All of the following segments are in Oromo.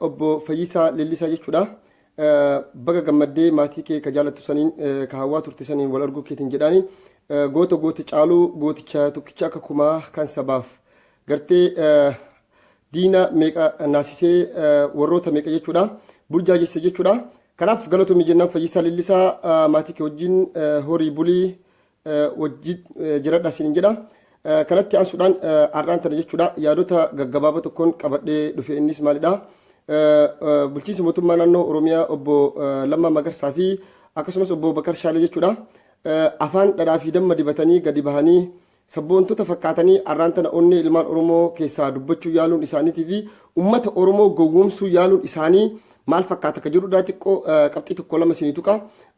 Obbo Fayyisaa Leellisaa jechuudha. Baga gammaddee maatii kee ka jaalattu saniin ka hawwaa turte saniin wal arguu keetiin jedhaani. Goota goota caaluu gooticha tokkicha akka kumaa kan sabaaf gartee diina meeqa naasisee warroota meeqa jechuudha. Burjaa jesse jechuudha. Kanaaf galatoomii jennaan Fayyisaa Leellisaa maatii kee wajjin horii bulii wajjin jiradha siin jedha. Kanatti aansuudhaan har'aan tana jechuudha yaadota gaggabaaboo tokkoon qabadhee dhufe innis maalidha? Bulchiinsi mootummaa naannoo Oromiyaa obbo Lammaa Magarsaa fi akkasumas obbo Bakar Shaalee jechuudha. Afaan dhadhaa fi damma dibatanii gadi bahanii sabboontota fakkaatanii har'aan tana onnee ilmaan Oromoo keessaa dubbachuu yaaluun isaaniitii fi uummata Oromoo gowwoomsuu yaaluun isaanii maal fakkaata akka jedhudha xiqqoo qabxii tokko lama isinii tuqa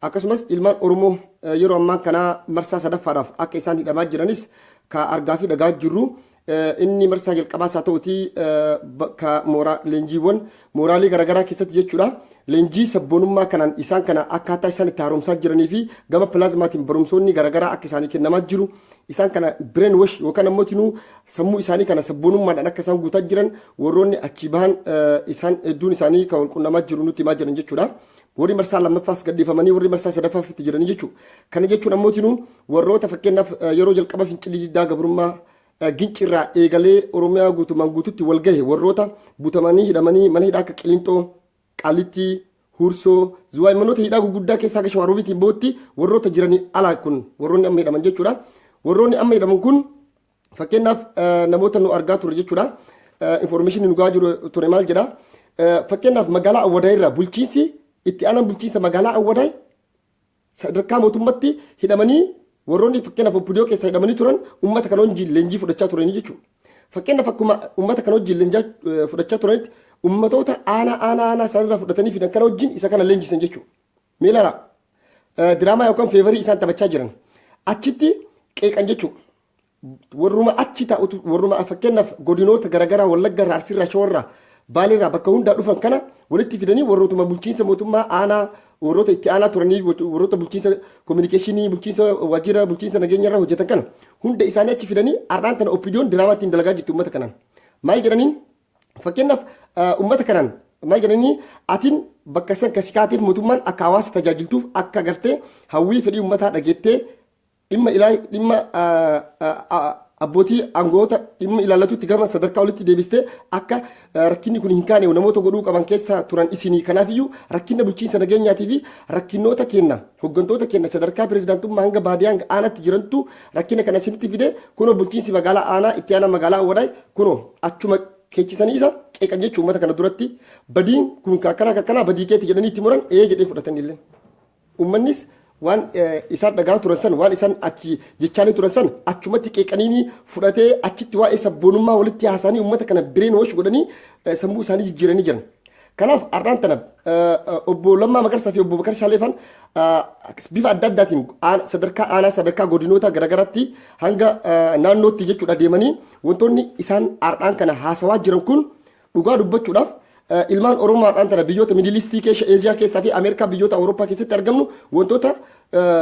akkasumas ilmaan oromoo yeroo ammaa kanaa marsaa sadaffaadhaaf akka isaan hidhamaa jiranis ka argaa fi dhagaa jirru inni marsaa jalqabaa isaa ta'uti bakka mooraa leenjiiwwan mooraalee garaagaraa keessatti jechuudha leenjii sabboonummaa kanaan isaan kana akkaataa isaan itti haaromsaa jiranii fi gama pilaazmaatiin barumsoonni garaagaraa akka isaanii kennamaa jiru isaan kana brain wash yookaan ammoo tinuu sammuu isaanii kana sabboonummaadhaan akka isaan guutaa jiran warroonni achii bahan isaan hedduun isaanii kan wal qunnamaa jiru nutti himaa jiran jechuudha. Warri marsaa lammaffaas gadhiifamanii warri marsaa sadaffaaf itti jiranii jechuudha. Kana jechuun ammoo tinuu warroota fakkeenyaaf yeroo jalqaba fincilli diddaa gabrummaa gincirraa eegalee Oromiyaa guutumaan guututti wal gahe warroota butamanii hidhamanii mana hidhaa akka qilinxoo Qaalittii, Huursoo, Zuwaay manoota hidhaa gurguddaa keessaa akka Shawaaroobitiin bootti warroota jiranii alaa kun warroonni amma hidhaman jechuudha. Warroonni amma hidhaman kun fakkeenyaaf namoota nu argaa turre jechuudha. Infoormeeshinii nu gahaa jiru ture maal jedha. Fakkeenyaaf magaalaa Awwadaa irraa bulchiinsi itti aanaan bulchiinsa magaalaa Awwadaa Sadarkaa mootummatti hidhamanii warroonni fakkeenyaaf oppidiyoo keessa hidhamanii turan uummata kana wajjin leenjii fudhachaa turanii jechuudha. Fakkeenyaaf akkuma uummata kana wajjin leenjaa fudhachaa turanitti uummatoota aanaa aanaa aanaa isaanirraa fudhatanii fidan kana wajjin isa kana leenjisan jechuudha. Mee ilaalaa diraamaa yookaan feevarii isaan taphachaa jiran achitti qeeqan jechuudha. warruma achi taa'utu warruma fakkeenyaaf godinoota garaagaraa wallagga irraa arsii irraa shawaa irraa baalee irraa bakka hundaa dhufan kana walitti fidanii warrootuma bulchiinsa mootummaa aanaa warroota itti aanaa turanii warroota bulchiinsa kominikeeshinii bulchiinsa waajjira bulchiinsa nageenya irra hojjetan kana hunda isaanii achi fidanii har'aan tana oppiidiyoon diraamaa ittiin dalagaa jirti uummata kanaan maal jedhaniin fakkeenyaaf uummata kanaan maal jedhanii atiin bakka san kasi kaateef mootummaan akka hawaasa tajaajiltuuf akka gartee hawwii fedhii uummataa dhageettee dhimma ilaa dhimma abbootii aangoota dhimma ilaallatutti gama sadarkaa olitti deebistee akka rakkinni kun hin kaane namoota godhuu qaban keessaa turan isinii kanaafiyyuu rakkina bulchiinsa nageenyaatii fi rakkinoota kenna hooggantoota kenna sadarkaa pirezidaantummaa hanga baadiyyaa hanga aanaatti jirantu rakkina kana isinitti fide kunoo bulchiinsi magaalaa aanaa itti aanaa magaalaa awwadaay kunoo achuma keechisanii isa qeeqan jechuun uummata kana duratti badiin kun kakkanaa kakkanaa badii keeti jedhanii itti muran ee jedhee fudhatanillee. Uummannis waan isaan dhagahaa turan san waan isaan achi jechaanii turan san achumatti qeeqaniini fudhatee achitti waa'ee sabboonummaa walitti haasa'anii uummata kana bireen wash godhanii sammuu isaanii jijjiiranii jiran. Kanaaf har'aan tana obbo Lammaa Magarsaa fi obbo Bakar Shaaleefan bifa adda addaatiin sadarkaa aanaa sadarkaa godinoota garaagaraatti hanga naannootti jechuudha deemanii wantoonni isaan har'aan kana haasawaa jiran kun Dhugaa dubbachuudhaaf ilmaan Oromoo har'aan tana biyyoota Midilistii keessa Eeshiyaa keessaa fi Ameerikaa biyyoota Awurooppaa keessatti argamnu wantoota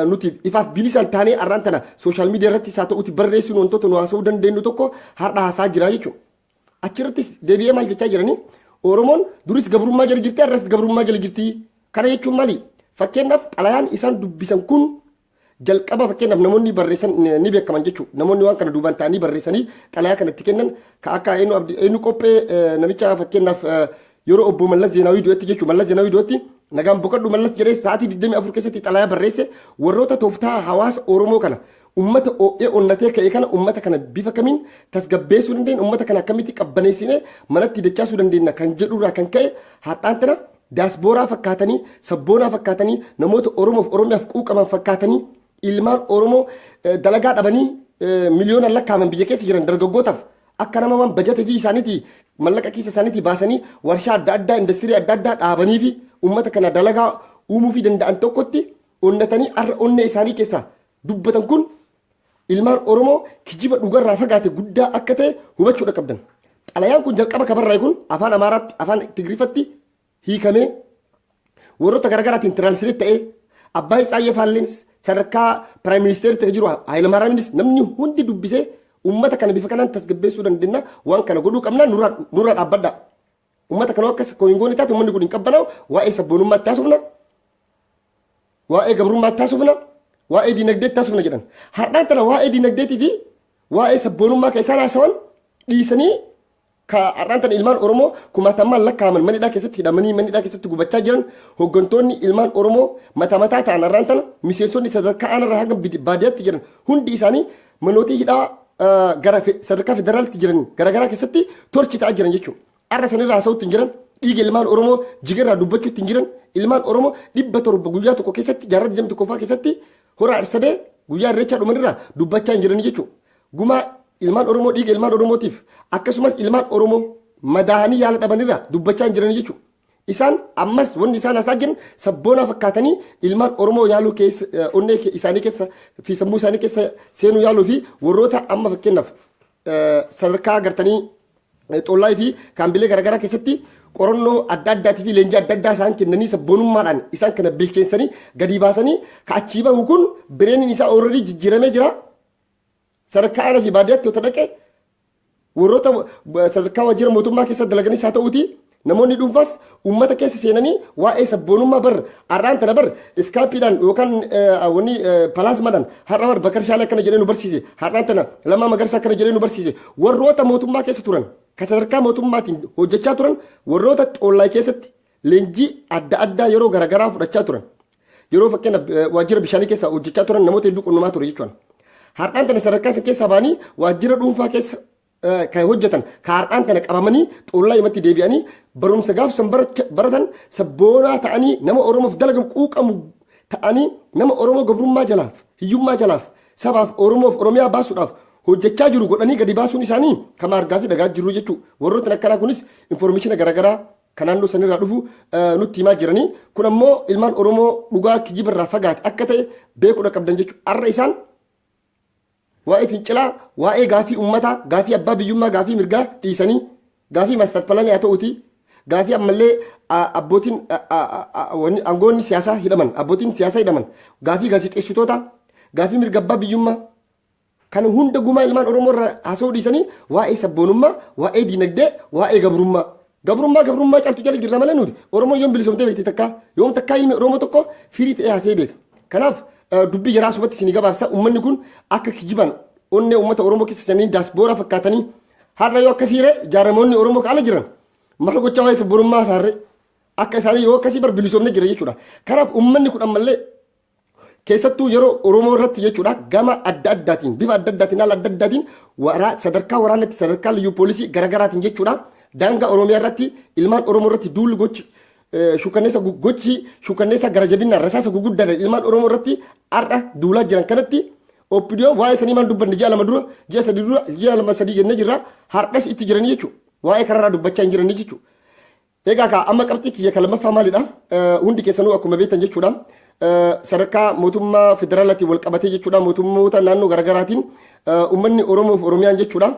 nuti ifaaf bilisaan taanee har'aan tana sooshaal miidiyaa irratti isaa ta'uti barreessuun wantoota nu haasa'uu dandeenyu tokko har'a haasaa jira jechuudha. Achirrattis deebi'ee maal jechaa jiranii Oromoon duris gabrummaa jala jirti har'as gabrummaa jala jirti. Kana jechuun maali? Fakkeenyaaf xalayaan isaan dubbisan kun Jalqaba fakkeenyaaf namoonni barreessan ni beekaman jechuudha. Namoonni waan kana duubaan ta'anii barreessanii xalayaa kana itti kennan ka akka eenyu qophee namicha fakkeenyaaf yeroo obbo Mallas Zeenaawii du'etti jechuudha. Mallas Zeenaawii du'etti nagaan boqadhu Mallas jedhee sa'aatii 24 keessatti xalayaa barreesse warroota tooftaa hawaasa Oromoo kana ummata oo'ee onnatee ka'e kana ummata kana bifa kamiin tasgabbeessuu dandeenya ummata kana akkamitti qabbaneessinee manatti dachaasuu dandeenya kan jedhurraa kan ka'e har'aan tana Diyaaspooraa fakkaatanii, sabboonaa fakkaatanii, namoota Oromoof Oromiyaaf quuqaman fakkaatanii, ilmaan Oromoo eh, dalagaa dhabanii eh, miliyoonaan lakkaa'aman biyya keessa jiran dargaggootaaf akka nama waan bajata fi isaaniitii mallaqa keessa isaaniitii baasanii warshaa adda addaa industirii adda addaa dhaabanii fi uummata kana dalagaa uumuu fi danda'an tokkotti onnatanii har'a onnee isaanii keessaa dubbatan kun ilmaan Oromoo kijiba dhugarraa fagaate guddaa akka ta'e hubachuudha qabdan. Xalayaan kun jalqaba kabarraa'e kun afaan Amaaraatti, afaan Tigiriffatti hiikamee warroota garaagaraatiin tiraansileet ta'ee abbaa Itsaayyee Faalleens sadarkaa piraayim ministeerri ta'e jiru Hayilamaaraamiinis namni hundi dubbisee uummata kana bifa kanaan tasgabbeessuu dandeenya waan kana godhuu qabna nurra dhaabbadha. Uummata kanoo akkas koo hin goone taate uummanni kun hin qabbanaa'u waa'ee sabboonummaa itti haasofna waa'ee gabrummaa itti haasofna waa'ee diinagdee itti haasofna jedhan har'aan tana waa'ee diinagdeetii fi waa'ee sabboonummaa kan isaan haasawan dhiisanii ka har'aan tana ilmaan Oromoo kumaatamaan lakkaa'aman manidhaa keessatti hidhamanii manidhaa keessatti gubachaa jiran hooggantoonni ilmaan Oromoo mataa mataa ta'an har'aan tana miseensonni sadarkaa aanarraa hanga baadiyyaatti jiran hundi isaanii Manooti hidhaa gara sadarkaa federaalitti jiran garaagaraa keessatti torchi ta'aa jiran jechuudha. Har'a sanirraa haasa'uutti hin jiran dhiiga ilmaan Oromoo jigarraa dubbachuutti hin jiran ilmaan Oromoo dhibba torba guyyaa tokko keessatti jaarraa digdamii tokkoffaa keessatti hora arsadee guyyaa irreechaa dhumanirraa dubbachaa hin jiran jechuudha. Gumaa ilmaan Oromoo dhiiga ilmaan Oromootiif akkasumas ilmaan Oromoo madaa'anii yaala dhabanirraa dubbachaa hin jiran jechuudha. Isaan ammas wanni isaan hasaa jiran sabboonaa fakkaatanii ilmaan Oromoo yaaluu keessa eh, onnee ke- isaanii keessa fi sammuu isaanii keessa seenuu yaaluu fi warroota amma fakkeenyaaf eh, sadarkaa agartanii eh, xollaa fi kaambilee garaagaraa keessatti qorannoo adda addaatii fi leenjii adda addaa isaan kennanii sabboonummaadhaan isaan kana bilcheessanii gadi baasanii ka achii bahu kun bireeniin isaa ooradii jijjiiramee jira. Sadarkaa aanaa fi baadiyyaatti yoo dhaqe warroota sadarkaa waajjira mootummaa keessa dalaganis haa ta'uuti namoonni dhuunfaas uummata keessa seenanii waa'ee sabboonummaa bar har'aan tana bar iskaapiidhaan yookaan wanni palaasmaadhaan har'a bar bakar shaalee akkana jedhee nu barsiise har'aan tana lamaa magarsa akkana jedhee nu barsiise warroota mootummaa keessa turan kan sadarkaa mootummaatiin hojjechaa turan warroota xollaa keessatti leenjii adda addaa yeroo garaagaraa fudhachaa turan. Yeroo fakkeenya waajjira bishaanii keessa hojjechaa turan namoota hedduu qunnamaa ture jechuudha. Har'aan tana sadarkaa isin keessaa ba'anii waajjira dhuunfaa keessa kan hojjetan kan har'aan tana qabamanii xollaa himatti deebi'anii barumsa gaaf san baratan sabboonaa ta'anii nama Oromoof dalagamu quuqamu ta'anii nama Oromoo gabrummaa jalaaf hiyyummaa jalaaf sabaaf Oromoof Oromiyaa baasuudhaaf hojjechaa jiru godhanii gadi baasuun isaanii kan argaa fi dhagaa jiru jechuudha. Warrootni akkanaa kunis infoormeeshina garaagaraa ka naannoo sanirraa dhufu nutti himaa jiranii kun ammoo ilmaan oromoo dhugaa kijibarraa fagaate akka ta'e beekuudha qabdan jechuudha har'a isaan waa'ee fincilaa waa'ee gaafii ummataa gaafii abbaa biyyummaa gaafii mirgaa dhiisanii gaafii maastar palanii haa ta'uuti gaafii ammallee abbootiin aangoonni siyaasaa hidhaman abbootiin siyaasaa hidhaman gaafii gaazexeessitoota gaafii mirga abbaa biyyummaa Kana hunda gumaa ilmaan Oromoo irraa haasa'uu dhiisanii waa'ee sabboonummaa, waa'ee diinagdee, waa'ee gabrummaa. Gabrummaa gabrummaa caaltu jala jirra malee nuti Oromoo yoom bilisoomtee beekti takkaa yoom takkaa ilmi Oromoo tokko firii ta'ee haasa'ee beeka. Kanaaf dubbii jaraa subatti isin gabaabsa uummanni kun akka kijibaan onnee uummata Oromoo keessa seenanii daasbooraa fakkaatanii har'a yoo akkasii ree jaaramoonni Oromoo kaala jiran maal gochaa waa'ee sabboonummaa isaarree akka isaanii yoo akkasii bar bilisoomne jira jechuudha. Kanaaf uummanni kun ammallee keessattuu yeroo Oromoo irratti jechuudha gama adda addaatiin bifa adda addaatiin haala adda addaatiin waraa sadarkaa waraanatti sadarkaa liyyuu poolisii garaagaraatiin jechuudha daangaa Oromiyaa irratti ilmaan Oromoo irratti duulli gochi shukanneessa gochi shukanneessa gara jabinaan rasaasa guguddaadhaan ilmaan Oromoo irratti har'a duulaa jiran kanatti oppidiyoon waa'ee sanii maal dubbanne ji'a lama dura ji'a sadii dura ji'a lama sadii jennee jirra har'as itti jiranii jechuudha waa'ee kanarraa dubbachaa hin jiranii jechuudha. Egaa kaa amma qabxii kiyya ka lammaffaa maalidha? Eh, Hundi keessanuu akkuma beektan jechuudha. Eh, Sadarkaa mootummaa federaalaatiin wal qabatee jechuudha mootummoota naannoo garaagaraatiin eh, uummanni Oromoof Oromiyaan jechuudha.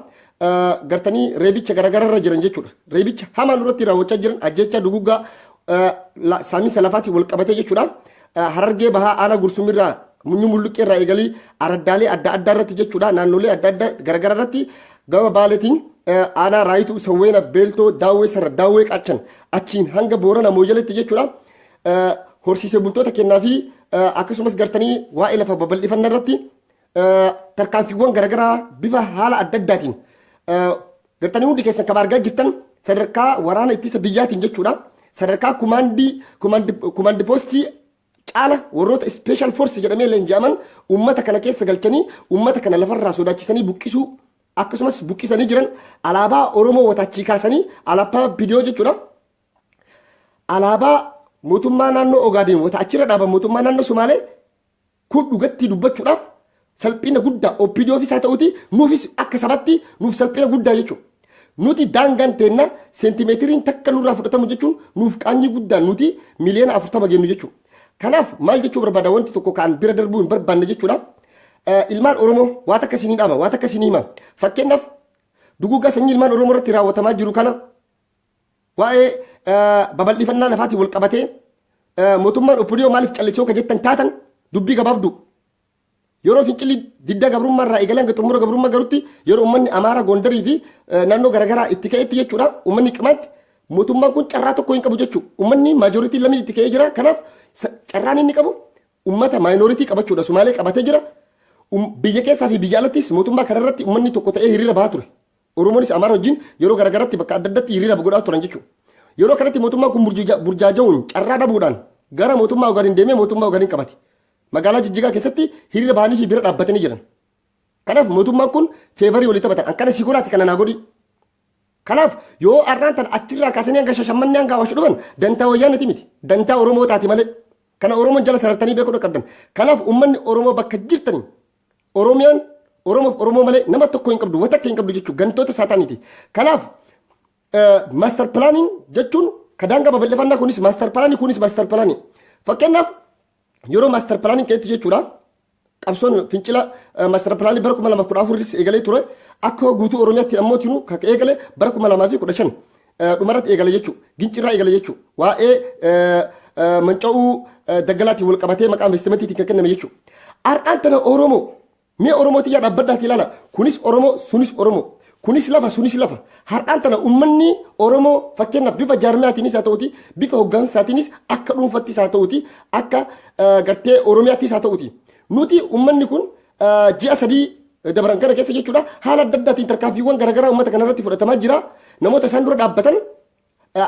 eh, Gartanii reebicha garaagaraarra jiran jechuudha. Reebicha hamaan irratti raawwachaa jiran ajjeechaa duguggaa eh, la- saamiinsa lafaatiin wal qabatee jechuudha. Harargee Bahaa Aanaa Gursum irraa Munyuu Mulluqqee irraa eegalii araddaalee adda addaa irratti jechuudha naannolee adda addaa garagara irratti gama baaleetiin aanaa raayituu sawweena beeltoo daawwee sarra daawwee qaachan achiin hanga boorana mooyyaletti jechuudha horsiisee bultoota kennaa fi akkasumas gartanii waa'ee lafa babal'ifannaa irratti tarkaanfiiwwan garagaraa bifa haala adda addaatiin Gartanii hundi keessan kan argaa jirtan sadarkaa waraana ittisa biyyaatiin jechuudha. Sadarkaa kumaandii kumaandi poostii caala warroota ispeeshaal foorsi jedhamee leenji'aman uummata kana keessa galchanii uummata kana lafarraa sodaachisanii buqqisuu akkasumas buqqisanii jiran alaabaa Oromoo wataachii kaasanii alaabaa bidiyoo jechuudha. Alaabaa mootummaa naannoo Ogaadeen wata achirra dhaaban mootummaa naannoo Somaalee Kun dhugattii dubbachuudhaaf salphina guddaa OPDOfis haa ta'uti nuufis akka sabatti nuuf salphina guddaa jechuudha. Nuti daangaan teenna seentimeetiriin takka nurraa fudhatamu jechuun nuuf qaanyii guddaan nuti miliyoona afurtama geennu jechuudha. Kanaaf maal jechuu barbaada wanti tokko kan bira darbuu hin barbaanne jechuudha. Ilmaan Oromoo waa takka isin dhaama, waa takka isin hima. Fakkeenyaaf duguuggaa sanyii ilmaan Oromoo irratti raawwatamaa jiru kana Waa'ee babal'ifannaa lafaatiin wal qabatee mootummaan Opidiyoo maaliif callisoo ka jettan taatan dubbii gabaabdu. Yeroo fincilli didda gabrummaa irraa eegalee hanga xumura gabrummaa garutti yeroo uummanni Amaaraa Gondarii fi naannoo garaagaraa itti ka'etti jechuudha uummanni qimaatti mootummaan kun carraa tokko hin qabu jechuudha. Uummanni maajooritiin lamni itti ka'ee jira kanaaf carraan inni qabu uummata maayinooritii qabachuudha Sumaalee qabatee jira. Biyya keessaa fi biyya alattis mootummaa kanarratti uummanni tokko ta'ee hiriira bahaa ture. Oromoonis Amaara wajjin yeroo garagaratti bakka adda addatti hiriira godhaa turan jechuudha. Yeroo kanatti mootummaan kun burjaaja'uun carraa dhabuudhaan gara mootummaa Ogaadin deemee mootummaa Ogaadin qabate. Magaalaa Jijjigaa keessatti hiriira bahanii fi bira dhaabbatanii jiran. Kanaaf mootummaan kun feevarii walii taphatan. Akkana si godhaati kana naa godhi. Kanaaf yoo har'aan tan achirraa kaasanii hanga shashammannee hanga hawaashu dhufan dantaa wayyaaniti miti. Dantaa Oromoo taati malee. Kana Oromoon jala sarartanii beekuu qabdan. Kanaaf uummanni Oromoo bakka jirtanii Oromiyaan Oromoof Oromoo malee nama tokko hin qabdu, wanta akka hin qabdu jechuudha. Gantoota saataaniiti. Kanaaf maaster pilaaniin jechuun ka daangaa babal'ifannaa kunis maaster pilaanii kunis maaster pilaanii. Fakkeenyaaf yeroo maaster pilaaniin keessatti jechuudha. Qabsoon fincila maaster pilaanii bara kuma lamaaf kudha afuris eegalee ture. Akka guutuu Oromiyaatti ammoo tinu kan eegale bara kuma lamaa fi kudha shan. dhumarratti eegala jechuu gincirraa eegala jechuu waa'ee manca'uu daggalaatiin wal qabatee maqaa investimentiitiin kan kenname jechuu har'aan tana oromoo mee oromoo tiyyaa dhaabbaddaati ilaala kunis oromoo sunis oromoo kunis lafa sunis lafa har'aan tana ummanni oromoo fakkeenyaaf bifa jaarmiyaatiinis haa ta'uti bifa hoggaansaatiinis akka dhuunfattis haa ta'uti akka gartee oromiyaattis haa ta'uti nuti ummanni kun ji'a sadii dabran kana keessa jechuudha haala adda addaatiin tarkaanfiiwwan garaagaraa uummata kana irratti fudhatamaa jira namoota isaan dura dhaabbatan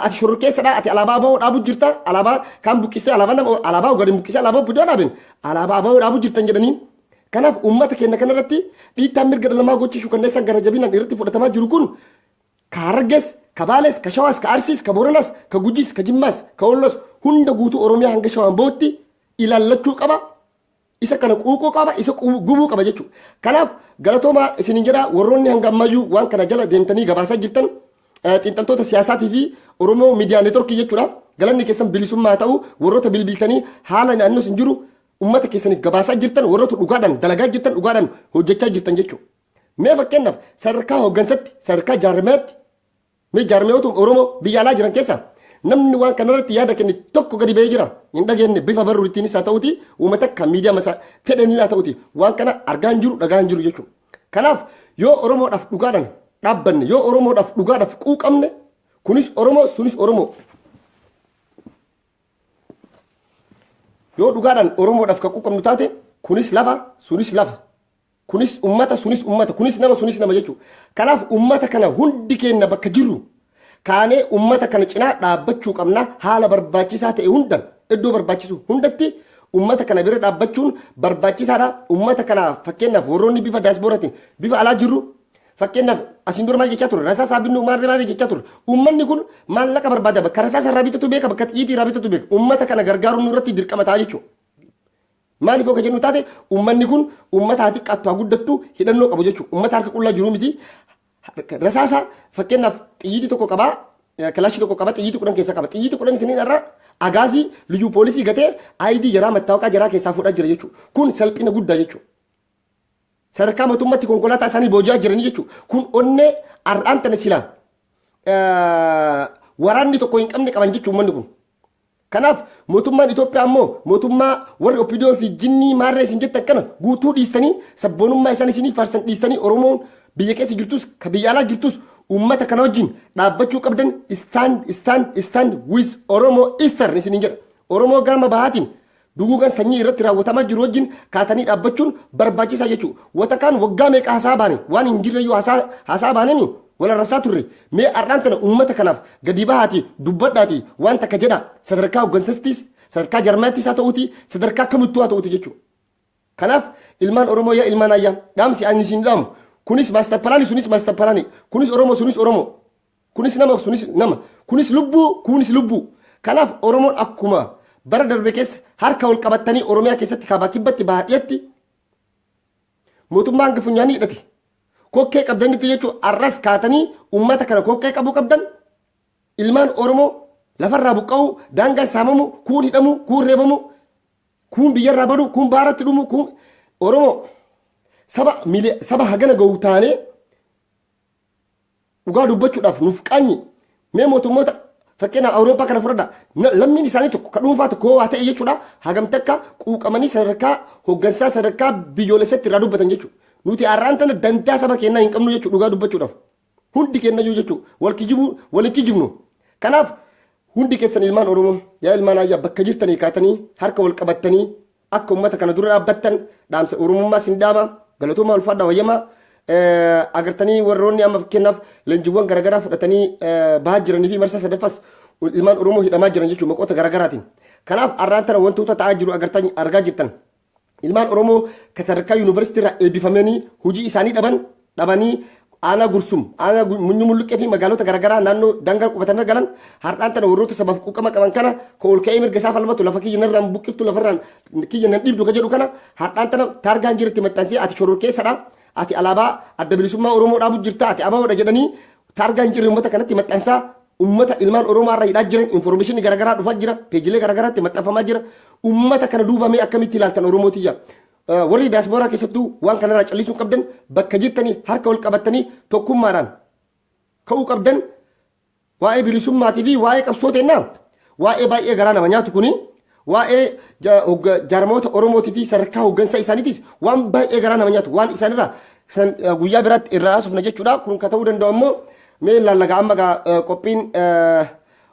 ati shororkeessadha ati alaabaa aboo dhaabu jirta alaabaa kaan buqqistee alaabaa nama alaabaa ogaadin buqqisee alaabaa obbidoo dhaabin alaabaa aboo dhaabu jirtan jedhanii kanaaf uummata keenya kana irratti dhiittaan mirga dhala namaa gochii shukanneessaan gara jabinaan irratti fudhatamaa jiru kun ka harargees ka baalees ka shawaas ka arsiis ka booranaas ka gujiis ka jimmaas ka ollos hunda guutuu oromiyaa hanga shawaan bootti ilaallachuu qaba isa kana quuquu qaba isa qubu- gubuu qaba jechuudha. Kanaaf galatoomaa isinin jedha warroonni hanga ammayyuu waan kana jala deemtanii gabaasaa jirtan eh, xiinxaltoota siyaasaatii fi Oromoo miidiyaa neetworkii jechuudha. Galanni keessan bilisummaa haa ta'u warroota bilbiltanii haala naannoo sin jiru ummata keessaniif gabaasaa jirtan warroota dhugaadhaan dalagaa jirtan dhugaadhaan hojjechaa jirtan jechuudha. Mee fakkeenyaaf sadarkaa hooggansatti sadarkaa jaarmaatti Mee jaarmiyootuma Oromoo biyya alaa jiran keessaa namni waan kanarratti yaada kenne tokko gadi ba'ee jira. Hin dhageenye bifa barruuttiinis haa ta'uti uuma takka miidiyaa masaa fedhaniin haa ta'uti waan kana argaa hin jiru dhagaa hin jiru jechuudha. Kanaaf yoo Oromoodhaaf dhugaadhaan dhaabbanne yoo Oromoodhaaf dhugaadhaaf quuqamne kunis Oromoo sunis Oromoo. Yoo dhugaadhaan Oromoodhaaf kan quuqamnu taate kunis lafa sunis lafa. Kunis ummata, sunis ummata, kunis nama, sunis nama jechuudha. Kanaaf ummata kana hundi keenya bakka jirru kaanee ummata kana cinaa dhaabbachuu qabna haala barbaachisaa ta'e hundan iddoo barbaachisu hundatti ummata kana bira dhaabbachuun barbaachisaadha. Ummata kana fakkeenyaaf warroonni bifa daasporaatiin bifa alaa jirru fakkeenyaaf asiin dura maal jechaa ture rasaasaa binnuu maal maal jechaa ture ummanni kun maallaqa barbaada bakka rasaasaa irraa bitatu beeka bakka xiyyiitii irraa bitatu beeka ummata kana gargaaruun nurratti dirqama ta'a jechuudha. Maaliif yoo ka jennu taate ummanni kun ummata haa xiqqaattu haa guddattu hidhannoo qabu jechuudha. Ummata harka qullaa jiru miti. Rasaasa fakkeenyaaf xiyyiitii tokko qabaa kilaashii tokko qaba xiyyiitii kudhan keessa qaba. Xiyyiitii kudhan isiniin irraa agaazii liyyuu poolisii gatee ID jaraa mattaawaqaa jaraa keessaa fuudhaa jira jechuudha. Kun salphina guddaa jechuudha. Sadarkaa mootummaatti konkolaataa isaanii booji'aa jiranii jechuudha. Kun onnee har'aan tana silaa waraanni tokko hin qabne qaban jechuudha ummanni kun. Kanaaf mootummaan Itoophiyaa ammoo mootummaa warri Opidiyoo fi jinnii maarree isin jettan kana guutuu dhiistanii sabboonummaa isaan isinii faarsan dhiistanii Oromoon biyya keessa jirtus ka biyya alaa jirtus uummata kana wajjin dhaabbachuu qabdan stand stand stand with Oromo Eastern isiniin jedha. Oromoo gaama bahaatiin Duguugan sanyii irratti raawwatamaa jiru wajjin kaatanii dhaabbachuun barbaachisaa jechuu wata kaan waggaa meeqa hasa'a baane waan hin jirreyyuu hasa'a hasa'a baanemi wal arrabsaa turre mee har'aan tana uummata kanaaf gadii bahaati dubbadhaati waan takka jedha sadarkaa hoggansattis sadarkaa jarmaattis haa ta'uuti sadarkaa kamittuu haa ta'uuti jechuu kanaaf ilmaan oromoo yaa ilmaan ayyaa dhaamsi ani isin dhaamu kunis maastar palaani sunis maastar palaani kunis oromoo sunis oromoo Kunis nama sunis nama. Kunis lubbuu kunis lubbuu. Kanaaf Oromoon akkuma bara darbe keessa harka wal qabattanii Oromiyaa keessatti kaabaa kibbatti bahaa dhiyatti mootummaa hanga funyaanii hidhate. Kokkee qabdanitti jechuun arras kaatanii uummata kana kokkee qabuu qabdan ilmaan Oromoo lafarraa buqqa'uu daangaa saamamuu kuun hidhamuu kuun reebamuu kuun biyyarraa baduu kuun baaratti dhumuu kuun Oromoo saba miili- saba hagana ga'u taanee Dhugaa dubbachuudhaaf nuuf qaanyi mee mootummoota fakkeenyaaf Awurooppaa kana fudhadha lammiin isaanii tokko ka dhuunfaa tokko waa ta'e jechuudha hagam takka quuqamanii sadarkaa hoggansaa sadarkaa biyyoolessatti irraa dubbatan jechuudha. Nuti har'aan tana dantaa saba keenyaa hin qabnu jechuudha dhugaa dubbachuudhaaf. Hundi keenyayyuu jechuudha wal kijibuu wal hin kijibnu. Kanaaf hundi keessan ilmaan Oromoo yaa ilmaan ayyaa bakka jirtanii kaatanii harka wal qabattanii Akka ummata kana dura dhaabbattan dhaamsa Oromummaa sin dhaama. Galatoomaa ulfaadhaa wayyamaa. Agartanii warroonni amma fakkeenyaaf leenjiiwwan garaagaraa fudhatanii bahaa jiranii fi marsaa sadaffas ilmaan Oromoo hidhamaa jiran jechuun maqoota garaagaraatiin. Kanaaf arraan tana wantoota ta'aa jiru agartan argaa jirtan. Ilmaan Oromoo kan sadarkaa yuunivarsiitii irraa eebbifamanii hojii isaanii dhaban dhabanii aanaa gursum aanaa munyu mulluqqee fi magaalota garaagaraa naannoo dangaa qubatanirra galan har'aan tana warroota sabaaf quuqama qaban kana ka ol ka'ee mirga isaa falmatu lafa kiyya narraa hin buqqiftu lafarraan kiyya nan dhiibdu ka jedhu kana har'aan tana taargaan jiratti maxxansee ati shororkeessadha ati alaabaa adda bilisummaa oromoo dhaabu jirta ati ababoodha jedhanii taargaan jirri uummata kanatti maxxansaa uummata ilmaan oromoo irra hidhaa jiran informeeshinii garaagaraa dhufaa jira peejilee garaagaraatti maxxanfamaa jira uummata kana duubamee akkamitti ilaaltan oromoo tiyya Warri daaspooraa keessattuu waan kanarraa callisuu hin qabdan bakka jirtanii harka wal qabattanii tokkummaadhaan ka'uu qabdan waa'ee bilisummaatii fi waa'ee qabsoo teennaa waa'ee baay'ee garaa nama nyaatu kuni waa'ee jaarmoota Oromootii fi sadarkaa hooggansa isaaniitis waan baay'ee garaa nama nyaatu waan isaanirraa guyyaa biraatti irraa haasofna jechuudha kun ka ta'uu danda'u ammoo mee laallagaa amma qophiin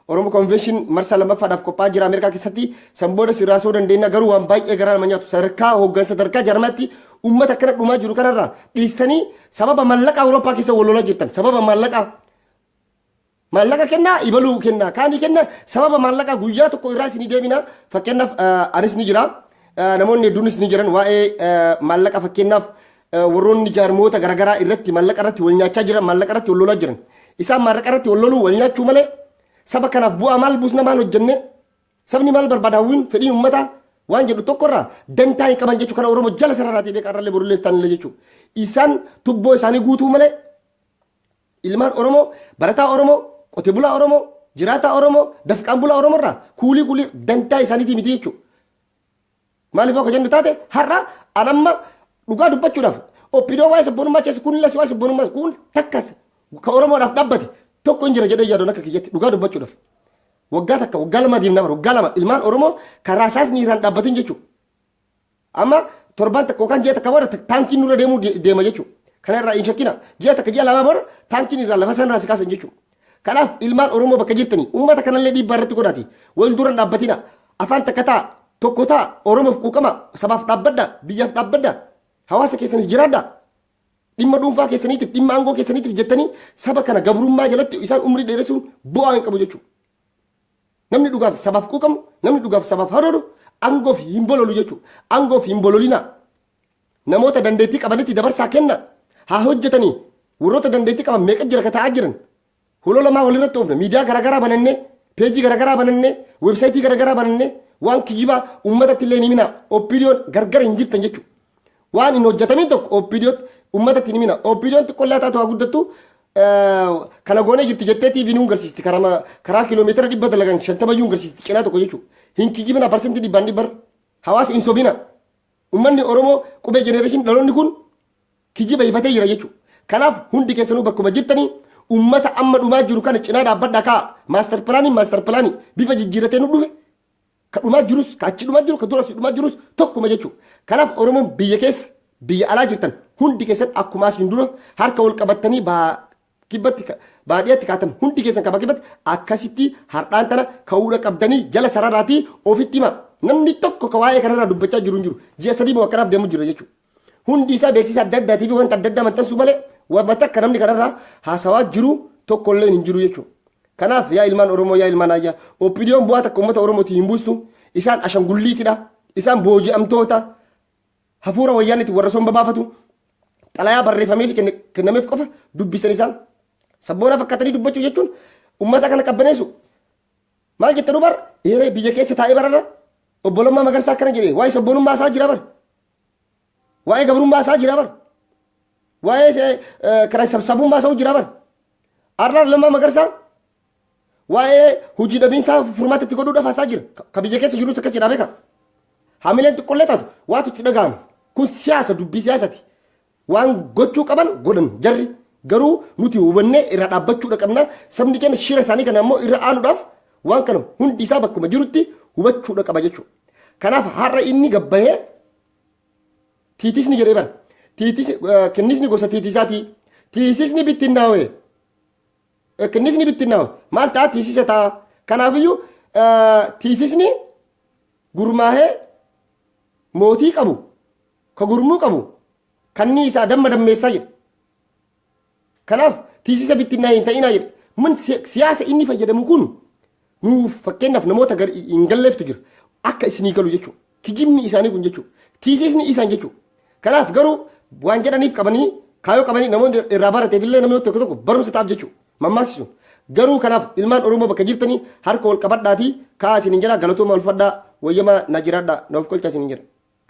Oromo Convention marsaa lammaffaadhaaf qophaa'aa jira Ameerikaa keessatti. San booda si raasuu dandeenya garuu waan baay'ee garaa nama nyaatu sadarkaa hooggansa sadarkaa jarmaatti uummata akkana dhumaa jiru kanarraa dhiistanii sababa maallaqaa Awurooppaa keessa wal lolaa jirtan sababa maallaqaa maallaqa kennaa ibaluu kennaa kaanii kennaa sababa maallaqaa guyyaa tokko irraa isinii deebina fakkeenyaaf anis ni jira namoonni hedduunis ni jiran waa'ee maallaqa fakkeenyaaf warroonni jaarmoota garaagaraa irratti maallaqa irratti wal nyaachaa jiran maallaqa irratti wal lolaa jiran isaan maallaqa irratti wal loluu wal nyaachuu malee saba kanaaf bu'aa maal buusna maal hojjenne sabni maal barbaada hawwiin fedhiin uummataa waan jedhu tokkorraa dantaa hin qaban jechuu kana oromoo jala sararaatii beekaa irrallee borullee taanillee jechuu isaan tubboo isaanii guutuu malee ilmaan oromoo barataa oromoo qote bulaa oromoo jiraataa oromoo dafqaan bulaa oromoo irraa kuulii kuulii dantaa isaaniitii miti jechuudha. Maaliif yoo ka jennu taate har'a an amma dhugaa dubbachuudhaaf oppidoo waa'ee sabboonummaa keessa kun illee waa'ee sabboonummaa kun takkas ka Oromoodhaaf dhabbate tokko hin jira jedhee yaadoon akka kiyyatti dhugaa dubbachuudhaaf. Waggaa takka waggaa lama deemnaa bara waggaa lama ilmaan Oromoo karaa isaas miiraan dhaabbatin jechuudha. Amma torban takka yookaan ji'a takka booda taankiin nurra deemuu deema jechuudha. Kana irraa hin shakkina. Ji'a takka ji'a lamaa booda taankiin irraa lafa sanarraa si kaasan jechuudha. Kanaaf ilmaan Oromoo bakka jirtanii uummata kanallee dhiibbaa irratti godhaati. Wal dura hin dhaabbatina. Afaan takka ta'a. Tokko ta'a. Oromoof quuqama. Sabaaf dhaabbadha. Biyyaaf dhaabbadha. Hawaasa keessaniif jiraadha. Dhimma dhuunfaa keessaniitiif, dhimma aangoo keessaniitiif jettanii saba kana gabrummaa jalatti isaan umrii dheeressuun bu'aa hin qabu jechuudha. Namni dhugaaf sabaaf quuqamu, namni dhugaaf sabaaf haroodu aangoof hin bololu jechuudha. Aangoof hin bololina. namoota dandeettii qabanitti dabarsaa kenna haa hojjetanii warroota dandeettii qaban meeqa jira ka ta'aa jiran huloo lamaa walirratti oofne miidiyaa garaagaraa banannee peejii garaagaraa banannee weebsaayitii garaagaraa banannee waan kijibaa uummatatti illee hin himinaa oppiidiyoon gargara hin jirtan jechuudha. Waan hin hojjetamin tokko oppiidiyootti uummatatti hin himina oppiidiyoon xiqqollaa taatu haa guddattu kana goonee jirti jettee TV nuun garsiisti karaa kiiloomeetira dhibba dalagan shantama iyyuu garsiisti cinaa tokko jechuudha. Hin kijibina parsantii dhibbaan dhibbar hawaasa hin sobina. Ummanni Oromoo qubee generation dhaloonni kun kijiba ifatee jira jechuudha. Kanaaf hundi keessanuu bakkuma jirtanii ummata amma dhumaa jiru kana cinaa dhaabbadhaa kaa maaster pilaanii maaster pilaanii bifa jijjiirratee nu dhufe ka dhumaa jirus ka achi dhumaa jiru ka dura si dhumaa jirus tokkuma jechuudha. Kanaaf Oromoon biyya keessa biyya alaa jirtan hundi keessan akkuma asiin dura harka wal qabattanii baa kibbatti baadiyatti kaatan hundi keessan kaba kibbatti akkasitti hardhaan tana ka'uudha qabdanii jala sararaatii ofitti hima namni tokko ka waa'ee kanarraa dubbachaa jiru hin jiru ji'a sadii moo akkanaaf deemu jira jechuudha. Hundi isaa beeksisa adda addaatii fi wanta adda addaa maxxansuu malee wanta akka namni kanarraa haasawaa jiru tokko illee hin jiru jechuudha. Kanaaf yaa ilmaan Oromoo yaa ilmaan Ayyaa OPDOn bu'aa takka uummata Oromootiin hin buustu isaan ashangulliitidha isaan booji'amtoota hafuura wayyaanitti warra somba baafatu xalayaa barreeffamee fi kenne- kennameef qofa dubbisan isaan sabboonaa fakkaatanii dubbachuu jechuun ummata kana qabbaneessu maal jette dubar eeree biyya keessa taa'ee bararra obbolummaa magarsaa akkana jedhee waa'ee sabboonummaa isaa jira bar waa'ee gabrummaa isaa jira bar waa'ee se- eh, kiraa sabsabummaa isaa jira bar arraa lammaa magarsaa Waa'ee hojii dhabiinsaa furmaata itti godhuudhaaf haasaa jira. Ka- Ka biyya keessa jirus akkas jedhaa beeka. Hamileen xiqqollee taatu waatu itti dhaga'ama. Kun siyaasa dubbii siyaasati. Waan gochuu qaban godhan jarri. Garuu nuti hubannee irra dhaabbachuudha qabna. Sabni keenya shira isaanii kana ammoo irra aanuudhaaf waan kana hundi isaa bakkuma jirutti hubachuudha qaba jechuudha. Kanaaf har'a inni gabbahee tiitisni jedhee bara. Tiitis, eh, kennisni gosa tiitisaatii. Tiisisni bittinnaawee. Kinnisni bittinnaawe maal ta'a tiisisa ta'a. Kanaafiyyuu tiisisni gurmaahee mootii qabu ka gurmuu qabu kanni isaa damma dammeessaa jedhe. Kanaaf tiisisa bittinnaa hin ta'inaa jedhe. Mun siyaasa inni fayyadamu kun Nuuf fakkeenyaaf namoota gar hin galleeftu jira. Akka isinii galu jechuudha. Kijibni isaanii kun jechuudha. Tiisiisni isaan jechuudha. Kanaaf garuu waan jedhaniif qabanii kaayoo qabanii namoonni irraa barateef illee namni tokko tokko barumsa ta'aaf jechuudha. Mammaaksi sun. Garuu kanaaf ilmaan Oromoo bakka jirtanii harka wal qabadhaatii kaa isin hin jedhaa galatoomaa ulfadhaa wayyamaa na jiraadhaa na of qolchaa isin hin jedha.